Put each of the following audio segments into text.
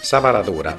Sa paradura.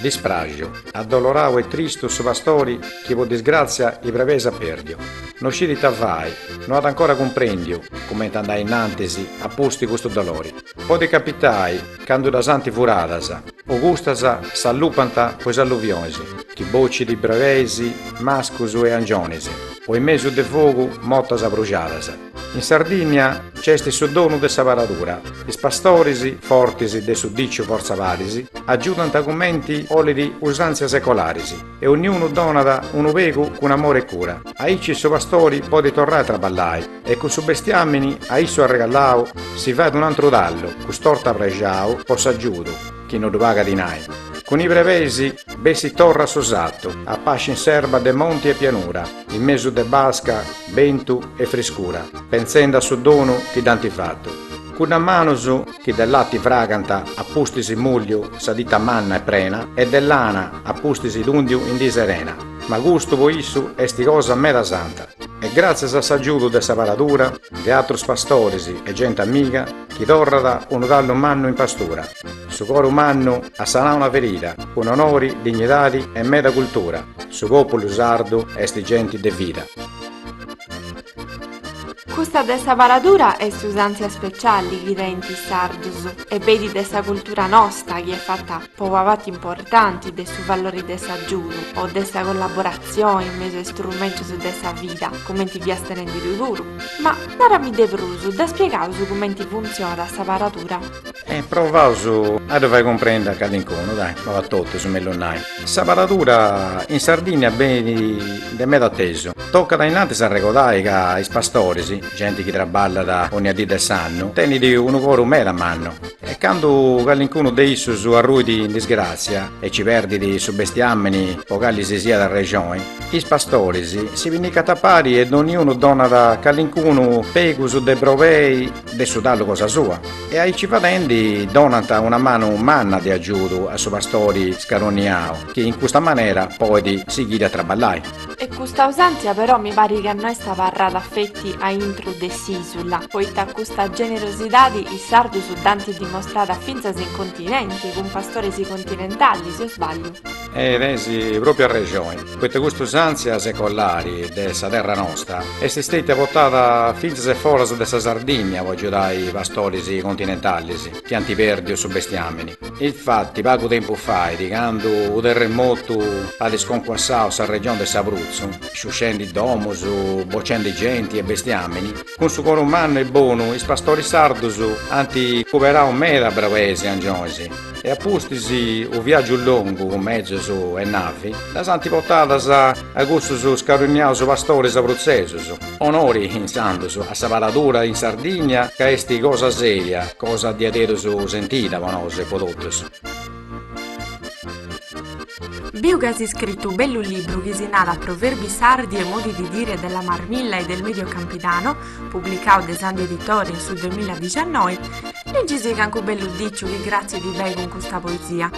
Dispraxu, addoloradu e tristu su pastori chi pro disgràtzia is brebeis at pèrdiu, no scit ita fai, no at ancora cumprèndiu cumenti andai innantis a pustis custu dolori. Podit capitai candu ddas ant furadas o custas s'allupant po is alluvionis chi bocit brebeis, mascus e angionis o in mesu de fogu motas abruxadas. In Sardìnnia nc'est su donu de sa paradura, is pastoris, fortis de su dìciu fortza paris, agiudant cumenti bolit usàntzias secolaris e onniunu donat unu pegu cun amore e cura, aici su pastori podit torrai a traballai e cun su bestiàmini a issu arregallau si fait un'antru tallu, cust'orta prexau po s'agiudu, chi no ddu pagat dinai, cun is brebeis bessit torra a su sartu, a pasci in s'erba de monti e pianura. In mesu de basca, bentu e friscura. Pentzendi a su donu chi dd'ant fatu. Cuddas manus chi de lati fragant a pustis mùlliu sa tita manna e prena e de lana a pustis tùndiu in dì serena. Ma custu po issu est cosa meda santa. E gràtzias a s'agiudu de sa paradura, de atrus pastoris e genti amiga chi torrat unu tallu mannu in pastura. Su coru mannu at sanau una ferida, cun onori, dignidadi e meda cultura, su pòpulu sardu est genti de vida. Custa de sa paradura est usàntzia speciali chi tenint is sardus e benit de sa cultura nosta chi est fata po una parti importanti de su valori de s'agiudu o de sa collaboratzioni in mesu a is turmentus de sa vida, cumenti fiast nendi tui puru. Ma narami de prus, dda spiegaus cumenti funtzionat sa paradura? E provaus a ddu fai cumprendi a calincunu, dai, no a totus, mellus nai. Sa paradura in Sardìnnia benit de meda atesu. Tocat innantis arregodai ca is pastoris, genti chi traballat onnia dì de s'annu, tenit unu coru meda mannu e candu calincunu de issus arruit in disgràtzia e ci perdit su bestiàmini po cali si siat arrexoni, is pastoris si pinnicant a pari e donniunu donat calincunu pegus de brobei de su tallu cosa sua e aici fadendi donant una manu manna de agiudu a su pastori scaroniau chi in custa manera poit sighiri a traballai. E custa usàntzia però mi parit ca no est abarrada feti a intru de s'ìsula, poita custa generosidadi is sardus dd'ant dimostrada fintzas in continenti cun pastoris continentalis, o sbagliu? E tenis pròpiu arrexoni, poita cust'usàntzia secolari de sa terra nosta est stètia portada fintzas e foras de sa Sardìnnia po agiudai pastoris continentalis chi ant pèrdiu su bestiàmini. Infati, pagu tempus fait, candu unu terremotu at sconcuassau sa regioni de s'Abrutzu, sciuscendi domus, bocendi genti e bestiàmini, Cun su coru mannu e bonu is pastoris sardus ant cuberau meda brabesi angionis e a pustis u viaggiu longu cun mezos e navi ddas ant portadas a cussus scarunniaus pastoris abrutzesus. Onori insandus a sa paradura in Sardigna ca esti cosa seria, cosa diaderus sentida po nosu e po totus. Biu ca as iscritu u bellu libru chi si nat Proverbi sardi e modi di dire della marmilla e del medio campidano, publicadu de Sandi Editore in su duemiladiciannoi, ligisì cancu bellu diciu chi cratzit beni cun custa poesia.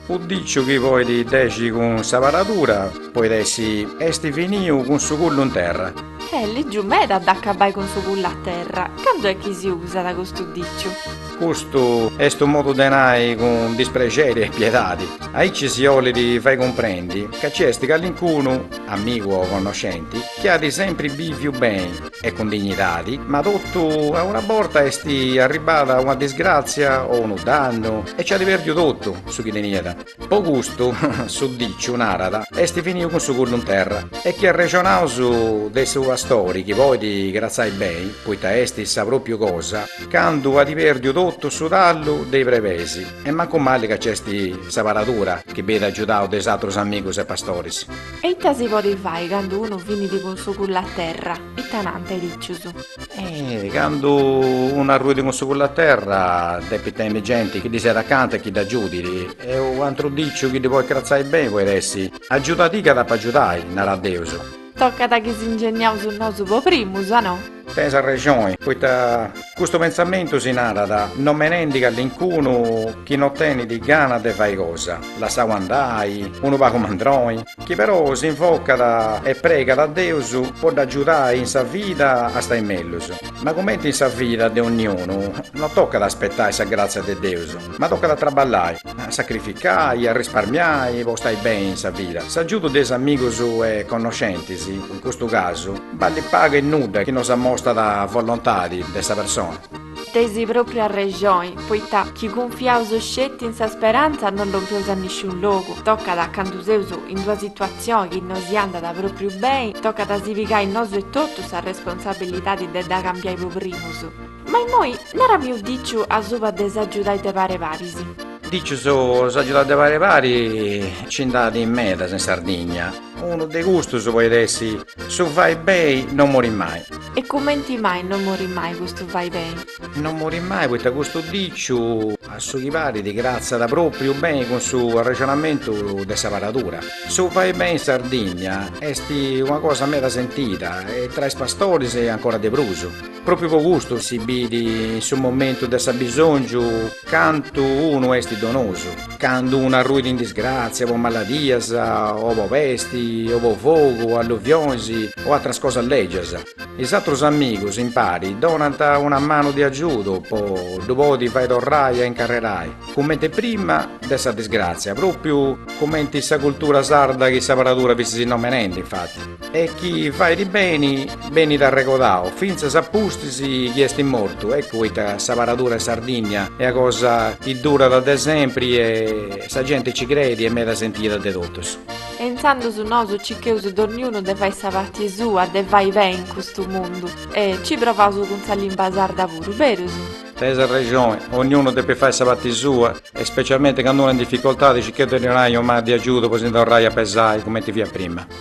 U diciu chi poit dèxiri cun sa paradura, poit essi, esti finiu cun su culu in terra. Est lègiu meda a dd'acabai cun su culu a terra, candu est chi si usat custu diciu? Custu est unu modu de nai cun disprexeri e piedadi. Aici si 'olit fai cumprendi ca ci est calincunu, amigu o connoscenti, chi at sempri bìviu beni e cun dignidadi, ma totu a una borta est arribbada una disgràtzia o unu dannu e ci at pèrdiu totu su chi teniat. Po custu, su diciu narat, est finiu cun su culu in terra e chi arrexonaus de su pastori chi podit cratzai beni, poita est sa propriu cosa, candu at perdiu totu su tallu de is brebeis e mancu mali ca c'est sa paradura chi benit agiudau de is atrus amigus e pastoris. E ita si podit fai candu unu finit cun su culu a terra? Ita nant is dicius? Eh, candu unu arruidi cun su culu a terra depit tenni genti chi ddi siat acanta e chi dd'agiudit. E u antru diciu chi ddi podit cratzai beni podit essi, Agiuda·ti ca t'ap'a agiudai, narat Deus. Tocat chi s'ingeniaus nosu po primus, a no? Tenis arrexoni, poita custu pentzamentu si narat nomenendi callincunu chi no tenit gana de fai cosa, lassau andai, unu pagu mandroni. chi però s'invocat e pregat a Deus po dd'agiudai in sa vida a stai mellus. Ma cumenti in sa vida de onniunu, no tocat a aspetai sa gratzia de Deus, ma tocat a traballai, a sacrificai, a risparmiai po stai beni in sa vida. S'agiudu de is amigus e connoscentis, in custu casu, ballit pagu e nudda chi no s'amostat volontadi de sa persona. Teis propriu arrexoi, poita chi cunfiaus sceti in sa speranza no lompeus a nisciun logu, tocat candu seus in d'una situatzioi chi no si andat propriu beni, tocat a si pigai nosu etotu sa responsabilidadi de dda cambiai po primus. Ma immoi narami u diciu asuba de s'agiudai de pare paris. Dicius s'agiudai de pare paris ci nd'at medas in Sardigna. Unu de custus poit essi su fai bei non morit mai. E cumenti mai non morit mai custu fai bei? Non morit mai poita custu diciu. A su chi parit cartzat propriu beni cun su arrexonamentu de sa paradura. Su fai bei in Sardinnia est una cosa meda sentida e tra is pastoris ancora de prus. Propriu po custu si bit in su momentu de s'abisongiu. Candu unu est donosu, candu unu arruit in disgràtzia po maladias o po pesti o po fogu o alluvionis o atras cosas lègias, is atrus amigus impari donant una manu de agiudu po ddu podi fai torrai a incarrerai cumenti prima de sa disgràtzia, pròpriu cumenti sa cultura sarda chi sa paradura fustis nomenendi infati. E chini fait beni benit arregodau, fintzas a pustis chi est mortu, eccu poita sa paradura in Sardigna est una cosa chi durat de sempri e sa genti nci creit, est meda sentida de totus. E intzandus nosu cicheus donniunu de fai sa parti sua, de fai beni in custu mundu e ci provaus cun sa limba sarda puru, berus? Teneis arrexoni, onniunu depit fai sa parti sua e specialmenti candu unu est in dificoltadi cicheus de ddi 'onai una manu de agiudu po si ndi torrai a pesai cumenti fiat prima.